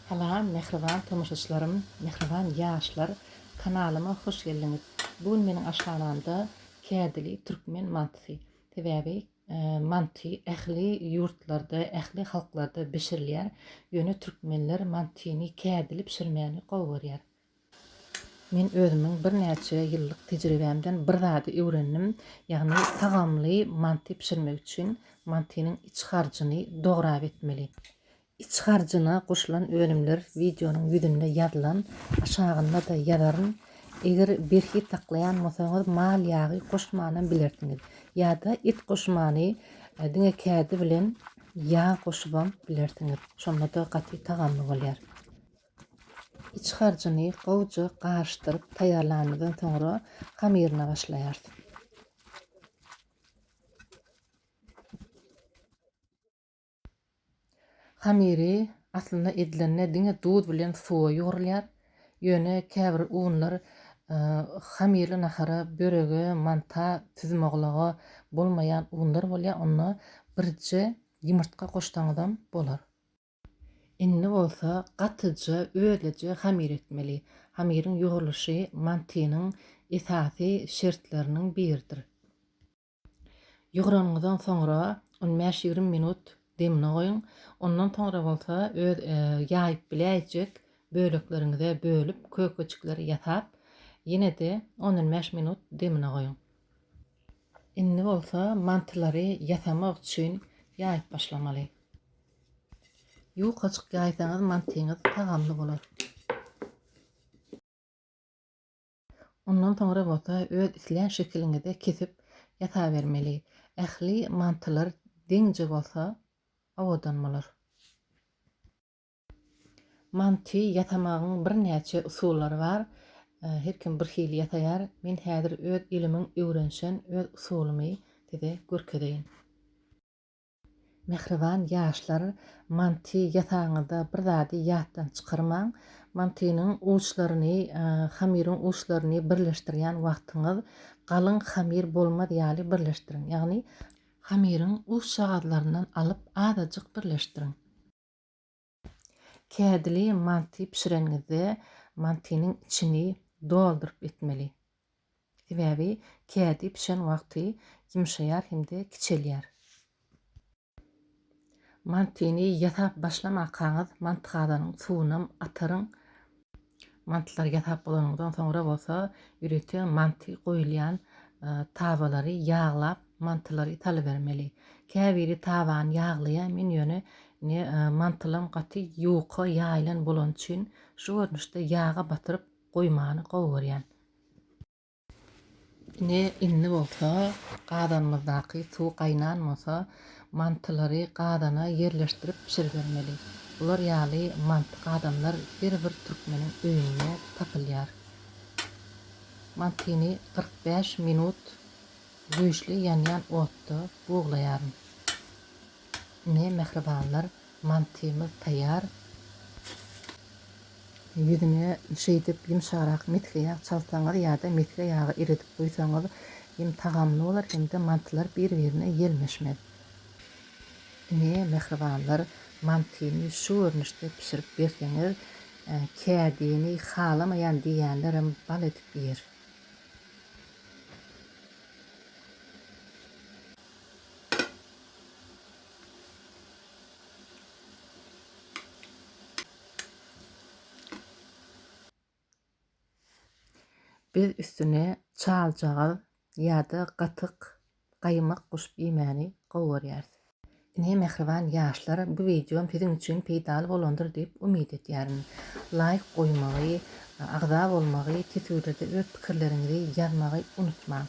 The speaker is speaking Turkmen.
Salam mähriban tomaşaçylarym, mähriban ýaşlar! Kanalyma hoş geldiňiz! Bu gün meniň aşhanamda kädili türkmen mantysy. Sebäbi manty ähli ýurtlarda, ähli halklarda bişirilýär, ýöne türkmenler mantyny kädili bişirmäni gowy görýär. Men özümiň birnäçe ýyllyk tejribämden bir zady öwrendim, ýagny tagamly manty bişirmek üçin mantynyň iç harjyny dograp etmeli. Iç harjyna goşulan önümler wideonyň ýüzünde ýazylan, aşagynda-da ýazaryn. Eger berhiz saklaýan bolsaňyz mal ýagy goşmanam bilersiňiz. Ýa-da et goşmany diňe kädi bilen ýag goşubam bilersiňiz. Şonda-da gaty tagamly bolýar. Iç harjyny gowja garyşdyryp taýýarlanymyzdan soňra hamyryna başlaýarys. Hamyry aslynda edilende diňe duz bilen suwa ýugrulýar. Ýöne käbir unlar hamyrly nahara, börege, manta, süzümoglaga bolmaýan unlar bolýar. Onda birje ýumurtga goşsaňyzam bolar. Indi bolsa gatyja özleje hamir etmeli. Hamiriň ýugrulyşy mantynyň esasy şertleriniň biridir. Ýugranyňyzdan soňra on bäş ýigrimi minut demine goýuň. Ondan soňra bolsa öz ýaýyp biläýjek bölekleriňize bölüp kökeçikleri ýasap ýene-de on on bäş minut demine goýuň. Indi bolsa mantylary ýasamak üçin ýaýyp başlamaly. Ýukaçyk ýaýsaňyz mantyňyz tagamly bolar. Ondan soňra bolsa öz islän şekiliňizde kesip ýasabermeli. Ähli mantylar deňje bolsa owadan bolar. Manty ýasamagyň birnäçe usullary bar. Her kim bir hili ýasaýar. Men häzir öz ilimiň öwrenişen öz usulymy size görkezeýin. Mähriban ýaşlar manti ýasaňyzda bir zady ýatdan çykarmaň, mantynyň uçlaryny hamyryň uçlaryny birleşdirýän wagtyňyz galyň hamyr bolmaz ýaly birleşdiriň ýagny hamyryň uçjagazlaryndan alyp azajyk birleşdiriň. Kädili manty bişirenizde mantynyň içini dolduryp etmeli. Sebäbi kädi bişen wagty ýumşaýar hem-de kiçelýär. Mantyny ýasap başlamakaňyz mantygadanyň suwunam ataryň Mantlary ýasap bolanyňdan soňra bolsa, ýörite manty goýulýan tabalary ýaglap, mantylary salybermeli. Käbiri tabany ýaglaýar, men ýöne indi mantylam gaty ýuka ýaýylan bolany üçin şu görnüşde ýaga batyryp goýmany gowy görýän. Ine, indi bolsa gazanymyzdaky suw gaýnan bolsa, mantylary gazana ýerleşdirip bişiribermeli. Bular ýaly manty gazanlar her bir türkmeniň öýünde tapylýar. Mantyny kyrk bäş minut güýçli ýanýan otda buglaýaryn. Ine, mähribanlar, Mantymyz taýýar. Ýüzüne şeýdip ýumşagrak mesge ýag çalsaňyz ýa-da mesge ýagy eredip guýsaňyz hem tagamly bolar hem-de mantylar bir-birine ýelmeşmez. Ine, mähribanlar, mantyny şu görnüşde bişirip berseňiz, kädini halamaýan diýýänlerem bal edip iýer. Biz üstüne çaljagaz ýa-da gatyk gaýmak goşup iýmäni gowy görýäris. Ine mähriban ýaşlar bu wideom siziň üçin peýdaly bolandyr diýip umyt edýärin. Laýk goýmagy, agza bolmagy, titüwlerde öz pikirleriňizi ýazmagy unutmaň.